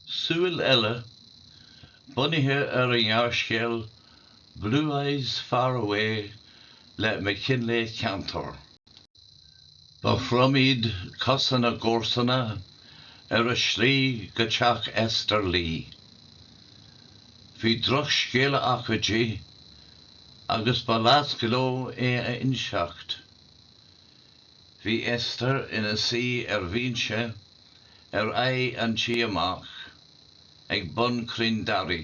Súil eile, bunaithe ar an ngearrscéal Blue Eyes Far Away le MacKinlay Kantor. Ba throm iad cosa na gcomharsana ar a slí go teach Esther Lee. Bhí drochscéala acu di agus ba leasc leo é a inseacht. Bhí Esther ina suí ar bhinse ar aghaidh an tí amach ag bun crainn daraí.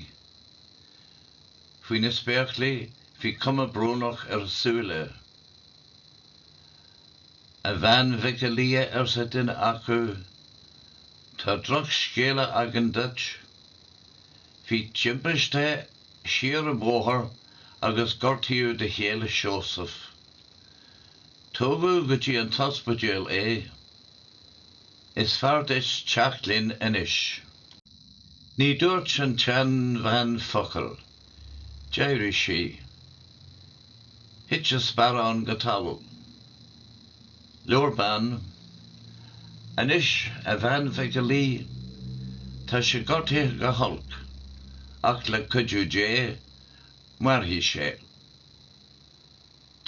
Faoi na spéaclaí bhí cuma brónach ar a súile. 'A bhean Mhic a Lia, arsa duine acu, 'tá drochscéala againn duit. Bhí timpiste siar an bóthar agus gortaíodh do chéile Seosamh. Tógadh go dtí an t-ospidéal é. Is fearr duit teacht linn anois. Ní dúirt an tseanbhean focal. D'éirigh sí. Thit an sparán go talamh. Labhair bean. Anois, a bhean Mhic a Laoi, tá sé gortaithe go holc, ach le cuidiú Dé, mairfidh sé.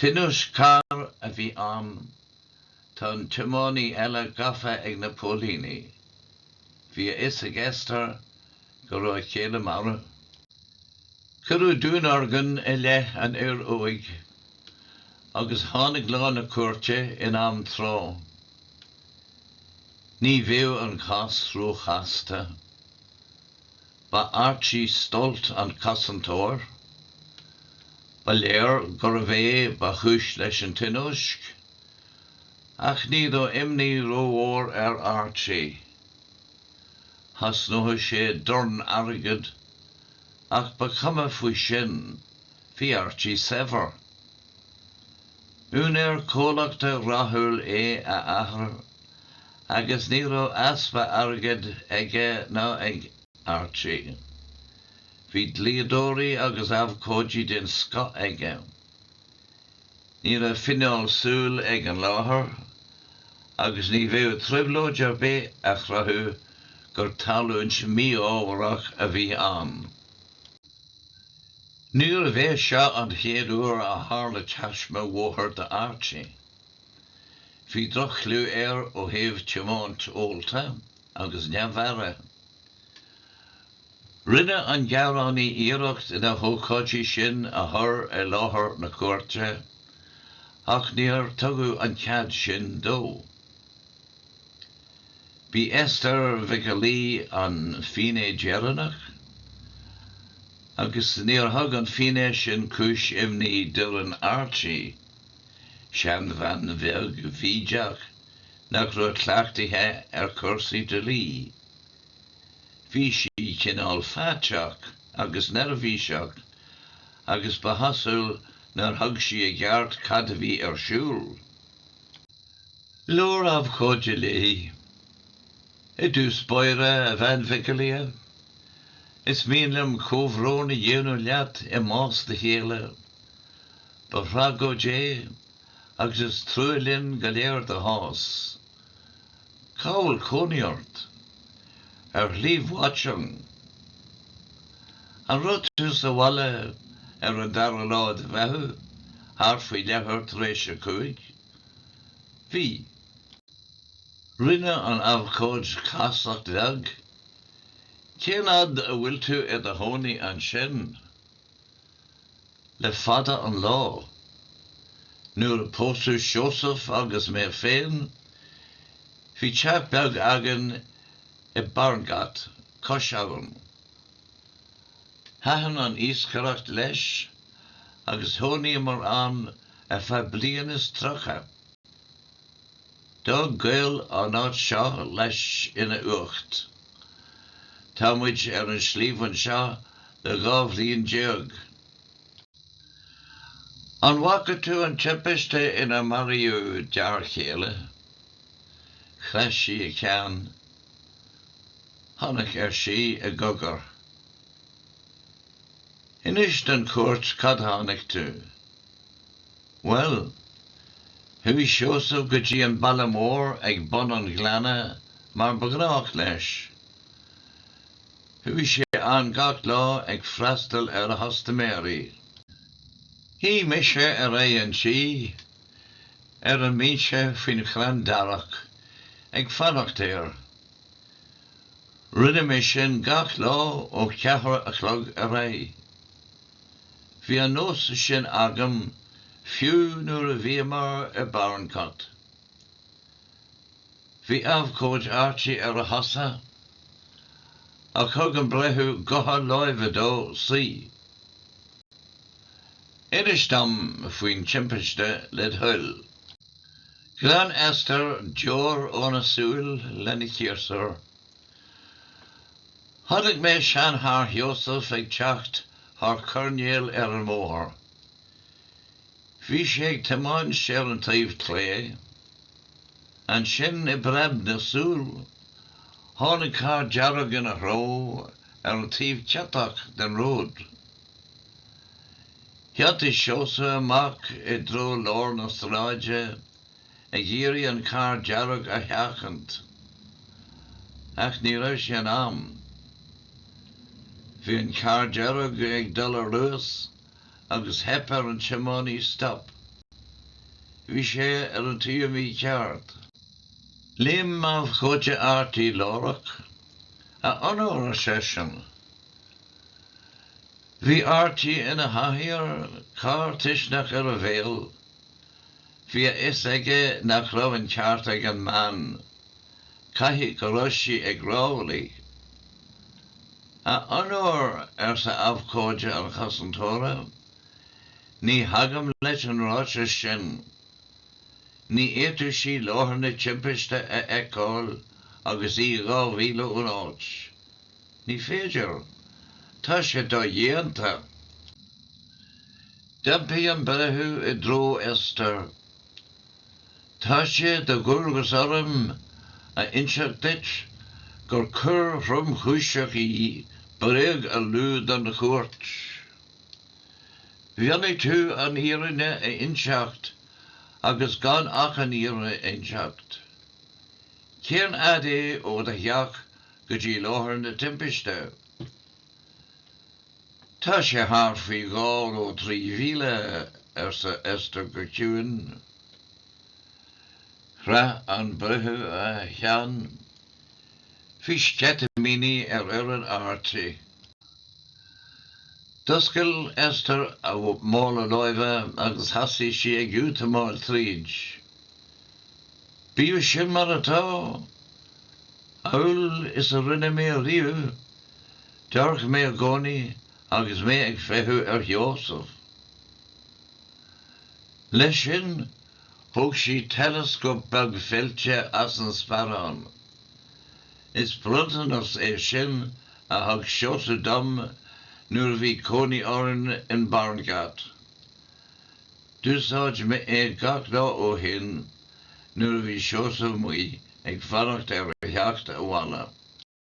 Tionóisc cairr a bhí ann. Tá an tiománaí eile gafa ag na póilíní. Bhí a fhios ag Esther go raibh a chéile marbh. Cuireadh dúnorgain i leith an fhir óig agus tháinig lá na cúirte in am tráth. Ní bheadh an cás róchasta. Ba Archie Stolt an cosantóir. Ba léir gurbh é ba chúis leis an tionóisc. Ach ní raibh imní rómhór ar Archie. Chosnódh sé dorn airgid, ach ba chuma faoi sin, bhí Archie saibhir. B'úinéir comhlachta rathúil é a athair agus ní raibh easpa airgid aige ná ag Archie. Bhí dlíodóirí agus abhcóidí den scoth aige. Ní raibh finné súl ag an láthair agus ní bheadh trioblóid ar bith a chruthú gur tarlúint mí-ámharach a bhí ann. Níorbh é seo an chéad uair a tharla taisme bhóthair d'Archie. Bhí droch-chliú air ó thaobh tiomáint ólta agus neamh-aire. Rinne an gearánaí iarracht na hócáidí sin a chur i láthair na cúirte ach níor tugadh an cead sin dó. B'í Esther Mhic Ailí an fínné deireanach. agus níor thug an finné sin cúis imní d'fhoireann Archie, seanbhean bheag bhídeach nach raibh cleachtaithe ar chúrsaí dlí. Bhí sí cineál faiteach agus neirbhíseach agus ba chosúil nár thuig sí i gceart cad a bhí ar siúl. Labhair abhcóide léi. I dtús báire, a Bhean Mhic Ailí, is mian liom comhbhrón a dhéanamh leat i mbás do chéile. Ba thragóid é agus is trua linn go léir do chás. Cá bhfuil cónaí ort? Ar Shlí Watchung. An raibh tú sa bhaile ar an dara lá de Mheitheamh, thart faoi leathuair tar éis a cúig? Bhí. Rinne an abhcóid casacht bheag. Cén fhad a bhfuil tú i do chónaí ansin? Le fada an lá. Nuair a pósadh Seosamh agus mé féin, bhí teach beag againn i Barnegat, cois abhann. Thaitin an iascaireacht leis agus chónaíomar ann ar feadh bliain is tríocha. D'fhág gaol an áit seo leis ina uacht. Tá muid ar an sliabh anseo le dhá bhliain déag. An bhfaca tú an timpiste inar maraíodh d'fhear chéile? Chroith sí a ceann. Chonac, ar sí i gcogar. Inis don chúirt cad a chonaic tú. Bhuel, chuaigh Seosamh go dtí an baile mór ag bun an ghleanna mar ba ghnách leis. Chuaigh sé ann gach lá ag freastal ar a chustaiméirí. Shuigh mise ar aghaidh an tí, ar an mbinse faoin chrann darach, ag fanacht air. Rinne mé sin gach lá ó cheathar a chlog ar aghaidh. Bhí an nós sin agam fiú nuair a bhíomar i bParncott. Bhí abhcóide Archie ar a chosa ach thug an breitheamh gotha láimhe dó suí. Inis dom faoin timpiste, led thoil. Ghlan Esther deoir óna súil lena chiarsúr. Chonaic mé seancharr Sheosaimh ag teacht thar coirnéal ar an mbóthar. Bhí sé ag tiomáint ar an taobh clé. Ansin, i bpreab na súl, tháinig carr dearg ina threo ar an taobh ciotach den ród. Thiontaigh Seosamh amach i dtreo lár na sráide. ag iarraidh an carr dearg a sheachaint. Ach ní raibh sé in am. Bhí an carr dearg ag dul ar luas agus theip ar an tiománaí stop. Bhí sé ar an taobh mícheart. Léim abhcóide Archie láithreach. A onóir, ar seisean. Bhí Archie ina chathaoir, cár tuisceanach ar a bhéal. Bhí a fhios aige nach raibh an ceart ag an mbean. Caithfidh go raibh sí ag rámhaillí. A Onóir, arsa abhcóide an chosantóra, ní thagaim leis an ráiteas sin. Ní fhéadfadh sí láthair na timpiste a fheiceáil agus í dhá mhíle ón áit. Ní féidir. Tá sé dodhéanta. D'iompaigh an breitheamh i dtreo Esther. Tá sé de dhualgas orm a inseacht duit gur coir thromchúiseach í bréag a lua don chúirt. Mhionnaigh tú an fhírinne a inseacht agus gan ach an fhírinne a inseacht. Cén fhad é ó do theach go dtí láthair na timpiste. Tá sé thart faoi dhá nó trí mhíle, arsa Esther go ciúin. Chroith an breitheamh a cheann. Bhí sceitimíní ar fhoireann Archie. D'oscail Esther a mála láimhe agus thosaigh sí ag útamáil tríd. Bíodh sin mar atá, amhail is a rinne mé riamh, d'amharc mé i gcónaí agus mé ag feitheamh ar Sheosamh. Leis sin, thóg sí teileascóp beag feilte as an sparán. Is bronntanas é sin a thug Seosamh dom nuair a bhí cónaí orainn in Barnegat. D'úsáid mé é gach lá ó shin nuair a bhí Seosamh amuigh ag fanacht ar a theacht abhaile.